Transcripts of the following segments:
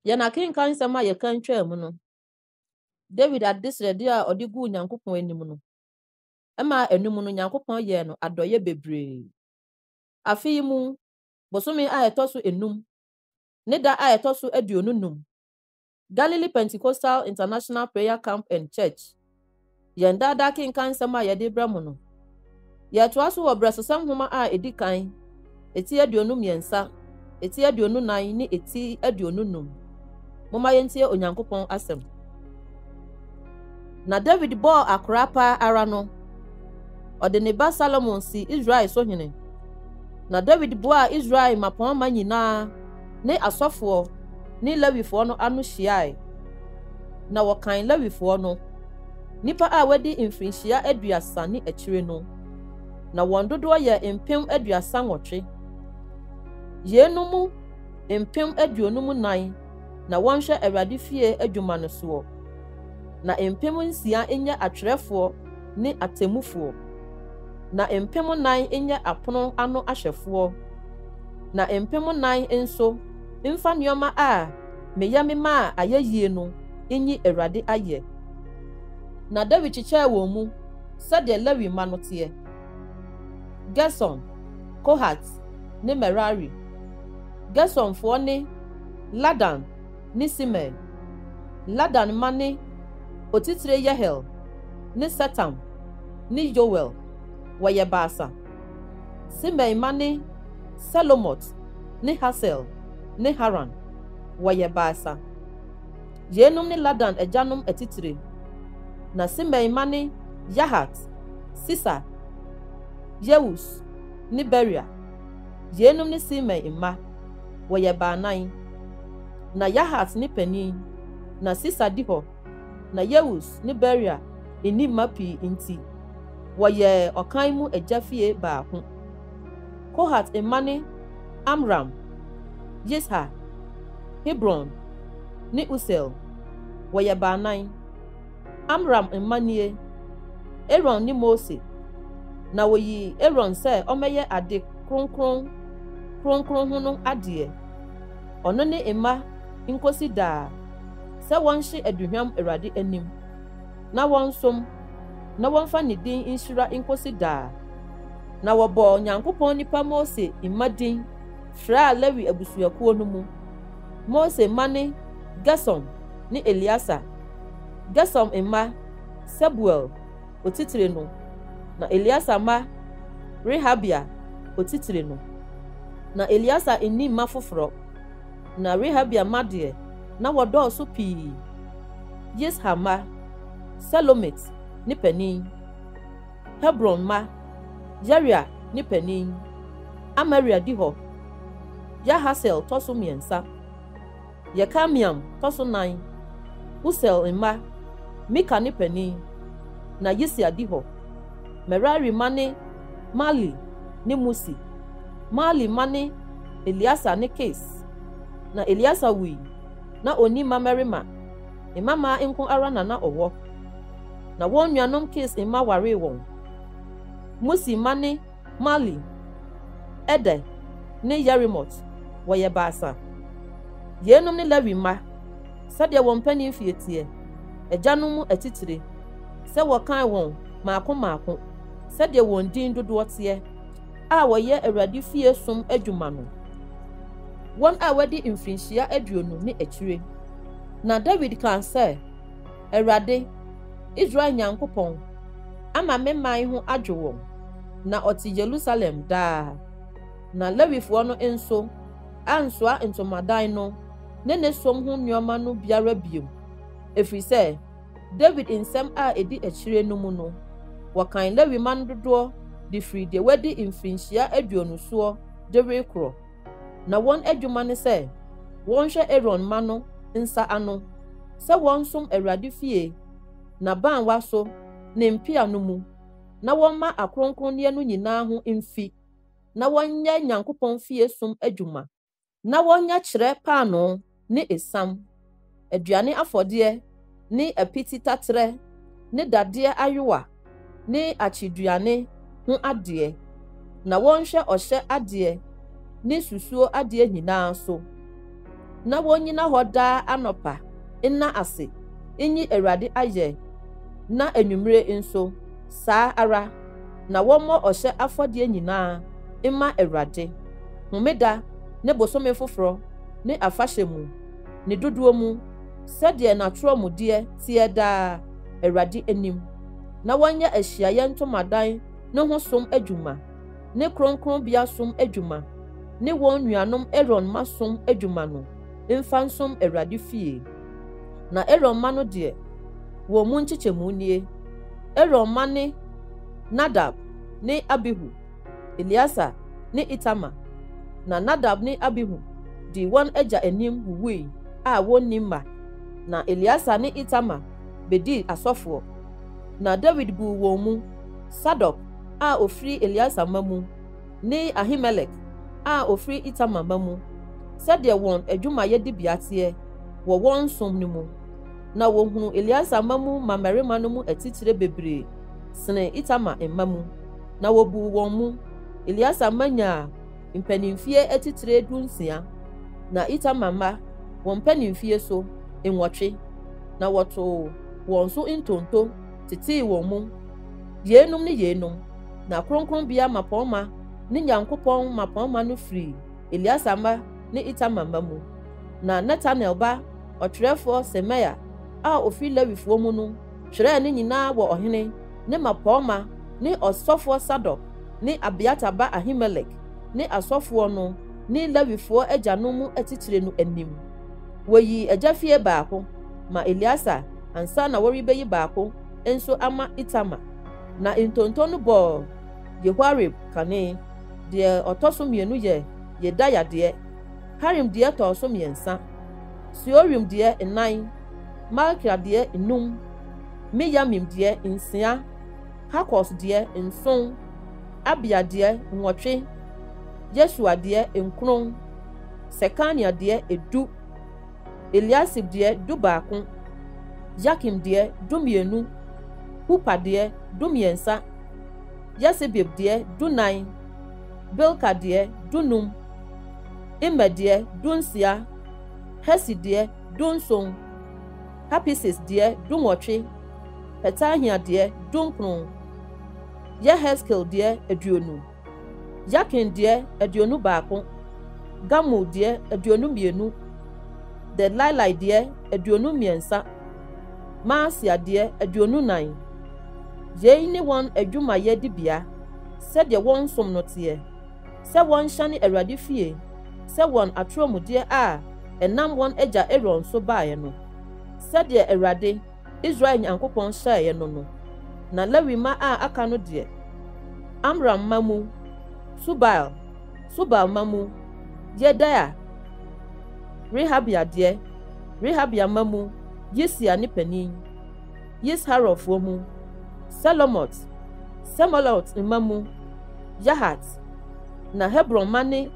Yɛn akenkan nsɛm a yɛkan twaa mu no, Dawid adesrɛde a ɔde guu Nyankopɔn anim no, ɛmaa anum no Nyankopɔn yɛɛ no adɔeɛ bebree. Afe yi mu, bosome a ɛtɔ so enum, ne da a ɛtɔ so aduonu num, Galilee Pentecostal International Prayer Camp and Church, Yɛn daa daa kenkan nsɛm a yɛde brɛ mo no. Yɛtoa so wɔ brɛsosɛm nhoma a edi kan, eti aduonu mmiɛnsa, eti aduonu nan ne eti aduonu num. Momma yɛntie Onyankopɔn asɛm. Na David bɔɔ akora paa ara no, ɔde ne ba Salomo si Israel so hene. Na David boaa Israel mmapɔmma nyinaa ne asɔfoɔ ne Lewifoɔ no ano hyiae, na wɔkan Lewifoɔ no, nnipa a wɔadi mfirinhyia aduasa ne akyire no, na wɔn dodoɔ yɛ mpem aduasa nwɔtwe. Yeinom mu mpem aduonum nan na wɔnhwɛ Awurade fie adwuma no soɔ, na mpem nsia nyɛ atwerɛfoɔ ne atemmufoɔ, na mpem nnan nyɛ apono ano ahwɛfoɔ, na mpem nnan nso mfa nneɛma a meyɛ memaa ayɛ yie no nyi Awurade ayɛ. Na Dawid kyekyɛɛ wɔn mu sɛdeɛ Lewi mma no teɛ, Gerson, Kohat ne Merari. Gersonfoɔ ne, Ladan, ne Simei, Ladan mma ne otitire Yehiel ne Setam ne Yoel, wɔyɛ baasa. Simei mma ne Selomot ne Hasael ne Haran, wɔyɛ baasa. Yeinom ne Ladan agyanom atitire. Na Simei mma ne Yahat, Sisa, Yeus ne Beria. Yeinom ne Simei mma. Wɔyɛ baanan. Ná Yahat ne panyin, na Sisa di hɔ. Ná Yeus ne Beria nni mma pii nti, wɔyɛɛ ɔkan mu agya fie baako. Kohat mma ne Amram, Yishar, Hebron, ne Usiel. Wɔyɛ baanan. Amram mma nie, Aaron ne Mose, na wɔyii Aaron sɛ ɔmmɛyɛ ade kronkron kronkron ho no adeɛ, ɔno ne mma nkɔsi daa, sɛ wɔnhye aduhwam Awurade anim, na wɔnsom, na wɔmfa ne din nhyira nkɔsi daa. Na wɔbɔɔ Nyankopɔn nipa Mose mma din fraa Lewi abusuakuo no mu, Mose mma ne Gersom ne Eleasar. Gersom mma, Sebuel, otitire no, na Eleasar mma, Rehabia, otitire no. Ná Eleasar nni mma foforɔ, na Rehabia mma deɛ, na wɔdɔɔso pii. Yisha mma, Selomit ne panin. Hebron mma, Yeria ne panin. Amaria di hɔ. Yahasiel tɔ so mmiɛnsa. Yekameam tɔ so nan, Usiel mma, Mika ne panin, na Yisia di hɔ. Merari mma ne Mahli ne Musi. Mahli mma ne Eleasar ne Kis. Na Eleasar wui, na onni mmammarima, mmammaa nko ara na na ɔwɔ, na wɔn nuanom Kis mma waree wɔn. Musi mma ne. Mahli, Eder ne Yerimot, wɔyɛ baasa. Yeinom ne Lewi mma sɛdeɛ wɔn mpanin mfeɛ teɛ, agyanom mu atitire, sɛ wɔkan wɔn mmaako mmaako sɛdeɛ wɔn din dodoɔ teɛ, a wɔyɛ Awurade fie som adwuma no, wɔn a wɔadi mfirinhyia aduonu ne akyire. Na Dawid kaa sɛ, Awurade, Israel Nyankopɔn, ama me man ho adwo wɔn. na ɔte Yerusalem daa. Na Lewifoɔ no nso ansoa ntomadan no ne ne som ho nneɛma no biara bio, ɛfiri sɛ Dawid nsɛm a ɛdi akyire no mu no, wɔkan Lewi mma no dodoɔ de firi deɛ wadi mfirinhyia aduonu soɔ de rekorɔ. Na wɔn adwuma ne sɛ wɔnhwɛ Aaron mma no nsa ano sɛ wɔnsom Awurade fie n'abaawa so ne mpea no mu, na wɔmma akronkronneɛ no nyinaa ho mfi, na wɔnyɛ Nyankopɔn fie som adwuma, na wɔnyɛ kyerɛ paanoo ne esiam, aduane afɔdeɛ ne apiti taterɛ ne dadeɛ ayowa ne akyeduane ho adeɛ, na wɔnhwɛ ɔhyɛ adeɛ ne susuo adeɛ nyinaa so. na wonnyina hɔ daa anɔpa nna ase nnyi Awurade ayɛ na anwummere nso saa ara, na wɔmmɔ ɔhyɛ afɔdeɛ nyinaa mma Awurade, homeda ne bosome foforɔ ne afahyɛ mu, ne dodoɔ mu, sɛdeɛ n'atorɔ mu deɛ teɛ daa Awurade anim, na wɔnyɛ ahyiaeɛ ntomadan no ho som adwuma. ne kronkronbea som adwuma ne wɔn nuanom Aaron mma som adwuma no mfa nsom Awurade fie. Na Aaron mma no deɛ, wɔn mu nkyekyɛmu nie, Aaron mma ne Nadab ne Abihu, Eleasa ne Itamar. Na Nadab ne Abihu dii wɔn agya anim wuwui a wɔnni mma, na Eleasa ne Itamar bɛdii asɔfoɔ. Na Dawid guu wɔn mu Sadok a ɔfiri Eleasar mma mu ne Ahimelek a ɔfiri Itamar mma mu sɛdeɛ wɔn adwumayɛ dibea teɛ wɔ wɔn som no mu. Na wɔhunuu Eleasar mma mu mmammarima no mu atitire bebree sene Itamar mma mu, na wɔbuu wɔn mu. Eleasar mma nyaa mpanimfie atitire dunsia, na Itamar mma wɔn mpanimfie so nwɔtwe, na wɔtoo wɔn so ntonto. tetee wɔn mu. Yeinom ne yeinom, na kronkronbea mmapɔmma ne Nyankopɔn mmapɔmma no firii Eleasar mma ne Itamar mma mu. Na Netanel ba ɔtwerɛfoɔ Semaia a ɔfiri Lewifoɔ mu no twerɛɛ ne nyinaa wɔ ɔhene ne mmapɔmma ne ɔsɔfoɔ Sadok ne Abiatar ba Ahimelek ne asɔfoɔ no ne Lewifoɔ agyanom mu atitire no anim. Wɔyii agyafie baako ma Eleasar ansa na wɔrebeyi baako nso ama Itamar. Na ntonto no bɔɔ Yehoiarib kane. Deɛ ɔtɔ so mmienu yɛ Yedaia deɛ, Harim deɛ tɔɔ so mmiɛnsa, Seorim deɛ nnan, Malkia deɛ nnum, Miyamim deɛ nsia, Hakos deɛ nson, Abia deɛ nwɔtwe, Yesua deɛ nkron, Sekania deɛ edu. Eliasib deɛ, dubaako, Yakim deɛ, dumienu, Hupa deɛ, dumiɛnsa, Yesebib deɛ, dunan, Bilka deɛ, dunum, Immer deɛ, dunsia, Hesi deɛ, dunson, Hapises deɛ, dunwɔtwe, Petahia deɛ, dunkron, Yeheskel deɛ, aduonu. Yakin deɛ, aduonu baako, Gamul deɛ, aduonu mmienu, Delailai deɛ, aduonu mmiɛnsa, Maasia deɛ, aduonu nnan. Yei ne wɔn adwumayɛ dibea, sɛdeɛ wɔn som no teɛ, sɛ wɔnhyɛne Awurade fie sɛ wɔn atorɔmudeɛ a ɛnam wɔn agya Aaron so baeɛ no, sɛdeɛ Awurade, Israel Nyankopɔn hyɛeɛ no no, na Lewi mma a aka no deɛ, Amram mma mu, Subael, Subael mma mu, Yedaia, Rehabia deɛ, Rehabia mma mu, Yisia ne panin, Yisharɔfoɔ mu, Selomot, Semolot mma mu, Yahat, na Hebron mma ne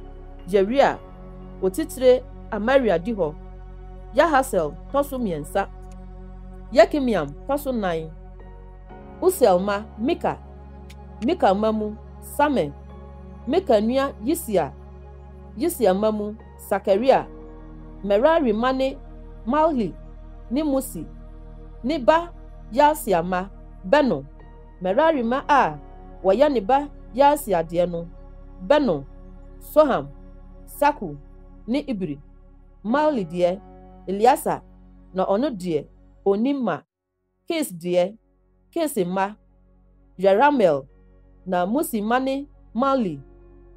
Yeria, otitire Amaria di hɔ, Yahasiel tɔ so mmiɛnsa. Yekameam tɔ so nan, Usiel mma, Mika, Mika mma mu, Samir, Mika nua Yisia, Yisia mma mu, Sakaria, Merari mma ne Mahli ne Musi, ne ba Yaasia mma, Beno, Merari mma a wɔyɛ ne ba Yaasia deɛ no, Beno, Soham, Sakur ne Ibri. Mahli deɛ, Eleasa na ɔno deɛ ɔnni mma, Kis deɛ, Kis mma, Yerahmeel, na Musi mma ne Mahli,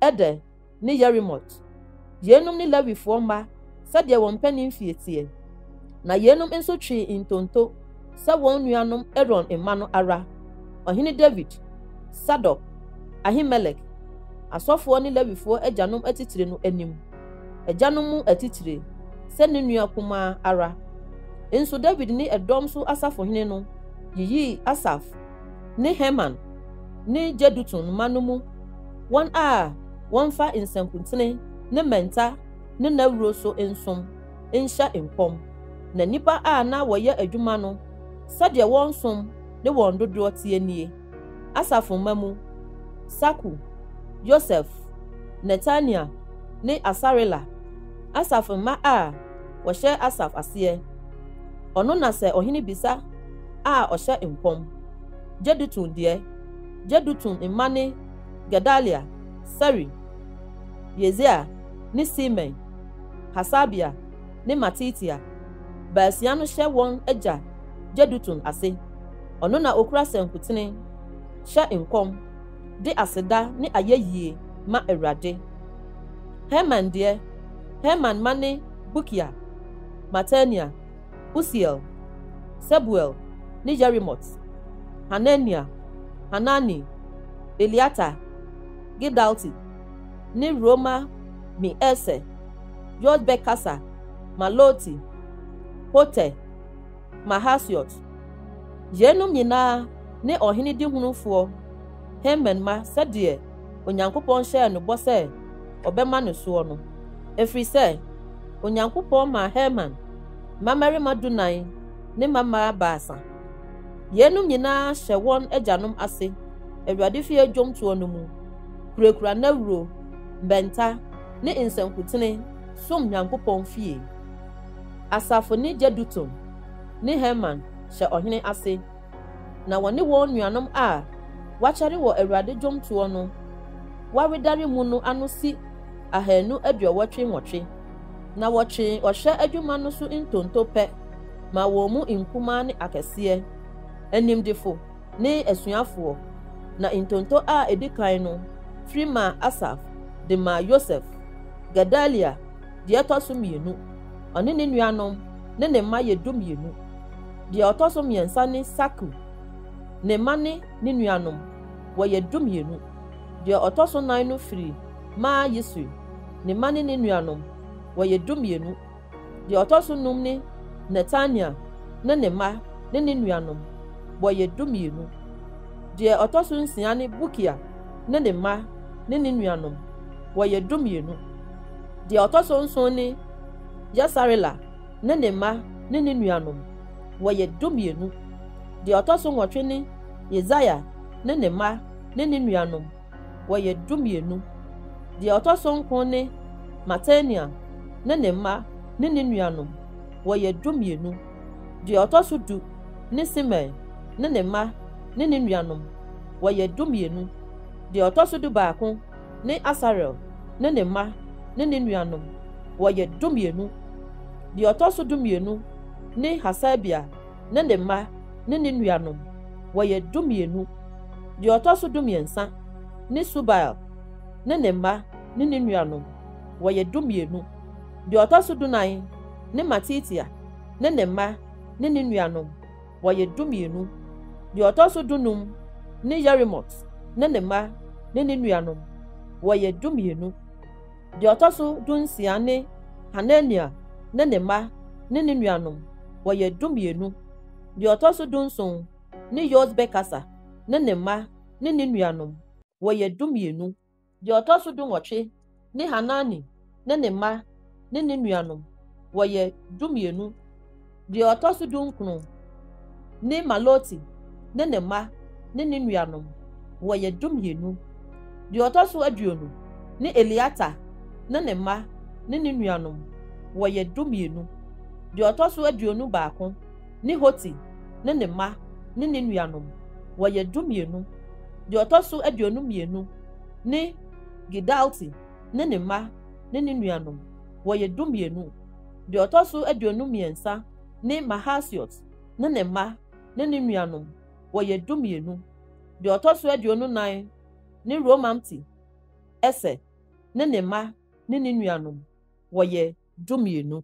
Eder, ne Yerimot. Yeinom ne Lewifoɔ mma sɛdeɛ wɔn mpaninfie teɛ, na yeinom nso twee ntonto. sɛ wɔn nuanom Aaron mma no ara, Ɔhene Dawid, Sadok, Ahimelek, asɔfoɔ ne Lewifoɔ agyanom atitire no anim, agyanom mu atitire, sɛ ne nua kumaa ara. Nso Dawid ne ɛdɔm so asafohene no yiyii Asaf ne Heman ne Jedutun mma no mu wɔn a wɔmfa nsankuntene ne mmɛnta ne nnawuro so nsom, nhyɛ nkɔm, na nnipa a na wɔyɛ adwuma no sɛdeɛ wɔn som ne wɔn dodoɔ teɛ nie, Asaf mma mu, Sakur, Yosef, Netania ne Asarela, Asaf mma a wɔhyɛ Asaf aseɛ, ɔno na sɛ ɔhene bisa a ɔhyɛ nkɔm, Jedutun deɛ, Jedutun mma ne Gedalia, Seri, Yesaia ne Simei. Hasabia, ne Matitia, baasia no hyɛ wɔn agya Jedutun ase. Ɔno na okura sankutene, hyɛ nkɔm, de aseda ne ayɛyie ma Awurade. Heman deɛ, Heman mma ne Bukia, Matania, Usiel, Sebuel, ne Yerimot, Hanania, Hanani, Eliata, Gidalti, ne Roma mi ese George bɛkasa ma Loti, Hoter, Mahasiot. Yeinom nyinaa ne ɔhene dihunufoɔ Haman mma sɛdeɛ Onyankopɔn hyɛɛ no bɔ sɛ ɔbɛma no soɔ no, ɛfiri sɛ Onyankopɔn maa Haman mmammarima dunan ne mmammaa baasa. Yeinom nyinaa hyɛ wɔn agyanom ase Awurade fie dwomtoɔ no mu. kurakura nnawuro, bɛnta, ne nsankutene som Nyankopɔn fie. Asaf ne Jeduthun ne Heman hyɛ ɔhene ase, na wɔne wɔn nuanom a wɔakyɛre wɔ Awurade dwomtoɔ no wawedare mu no ano si ahanu aduɔwɔtwe nwɔtwe, na wɔtwee ɔhwɛ adwuma no so ntonto pɛ maa wɔn mu nkumaa ne akɛseɛ, animdefo, ne asuafoɔ, na ntonto a ɛdi kan no firi maa Asaf de maa Yosef, Gedalia deɛ ɛtɔ so mmienu, ɔne ne nuanom ne ne mma yɛ dumienu, deɛ ɔtɔ so mmiɛnsa ne Sakur, ne mma ne ne nuanom, wɔyɛ dumienu, deɛ ɔtɔ so nan no firi maa Yisri, ne mma ne ne nuanom, wɔyɛ dumienu. Deɛ ɔtɔ so nnum ne Netania ne ne mma ne ne nuanom, wɔyɛ dumienu. Deɛ ɔtɔ so nsia ne Bukia ne ne mma ne ne nuanom, wɔyɛ dumienu. Deɛ ɔtɔ so nson ne Yesarela ne ne mma ne ne nuanom, wɔyɛ dumienu. Deɛ ɔtɔ so nwɔtwe ne Yesaia ne ne mma ne ne nuanom, wɔyɛ dumienu. Deɛ ɔtɔ so nkron ne Matania ne ne mma ne ne nuanom, wɔyɛ dumienu. Deɛ ɔtɔ so du ne Simei ne ne mma ne ne nuanom, wɔyɛ dumienu. Deɛ ɔtɔ so dubaako ne Asarel ne ne mma ne ne nuanom, wɔyɛ dumienu. Deɛ ɔtɔ so dumienu ne Hasabia ne ne mma ne ne nuanom, wɔyɛ dumienu. Deɛ ɔtɔ so dumiɛnsa ne Subael ne ne mma ne ne nuanom, wɔyɛ dumienu. Deɛ ɔtɔ so dunan ne Matitia ne ne mma ne ne nuanom, wɔyɛ dumienu. Deɛ ɔtɔ so dunum ne Yerimot ne ne mma ne ne nuanom, wɔyɛ dumienu. Deɛ ɔtɔ so dunsia ne Hanania ne ne mma ne ne nuanom, wɔyɛ dumienu. Deɛ ɔtɔ so dunson ne Yos bɛkasa ne ne mma ne ne nuanom, wɔyɛ dumienu. Deɛ ɔtɔ so dunwɔtwe ne Hanani ne ne mma ne ne nuanom, wɔyɛ dumienu. Deɛ ɔtɔ so dunkron ne Maloti ne ne mma ne ne nuanom, wɔyɛ dumienu. Deɛ ɔtɔ so aduonu ne Eliata ne ne mma ne ne nuanom, wɔyɛ dumienu. Deɛ ɔtɔ so aduonu baako ne Hoti ne ne mma ne ne nuanom, wɔyɛ dumienu. Deɛ ɔtɔ so aduonu mmienu ne Gidalti ne ne mma ne ne nuanom, wɔyɛ dumienu. Deɛ ɔtɔ so aduonu mmiɛnsa ne Mahasiot ne ne mma ne ne nuanom, wɔyɛ dumienu. Deɛ ɔtɔ so aduonu nnan ne Romamti Eser ne ne mma ne ne nuanom, wɔyɛ dumienu.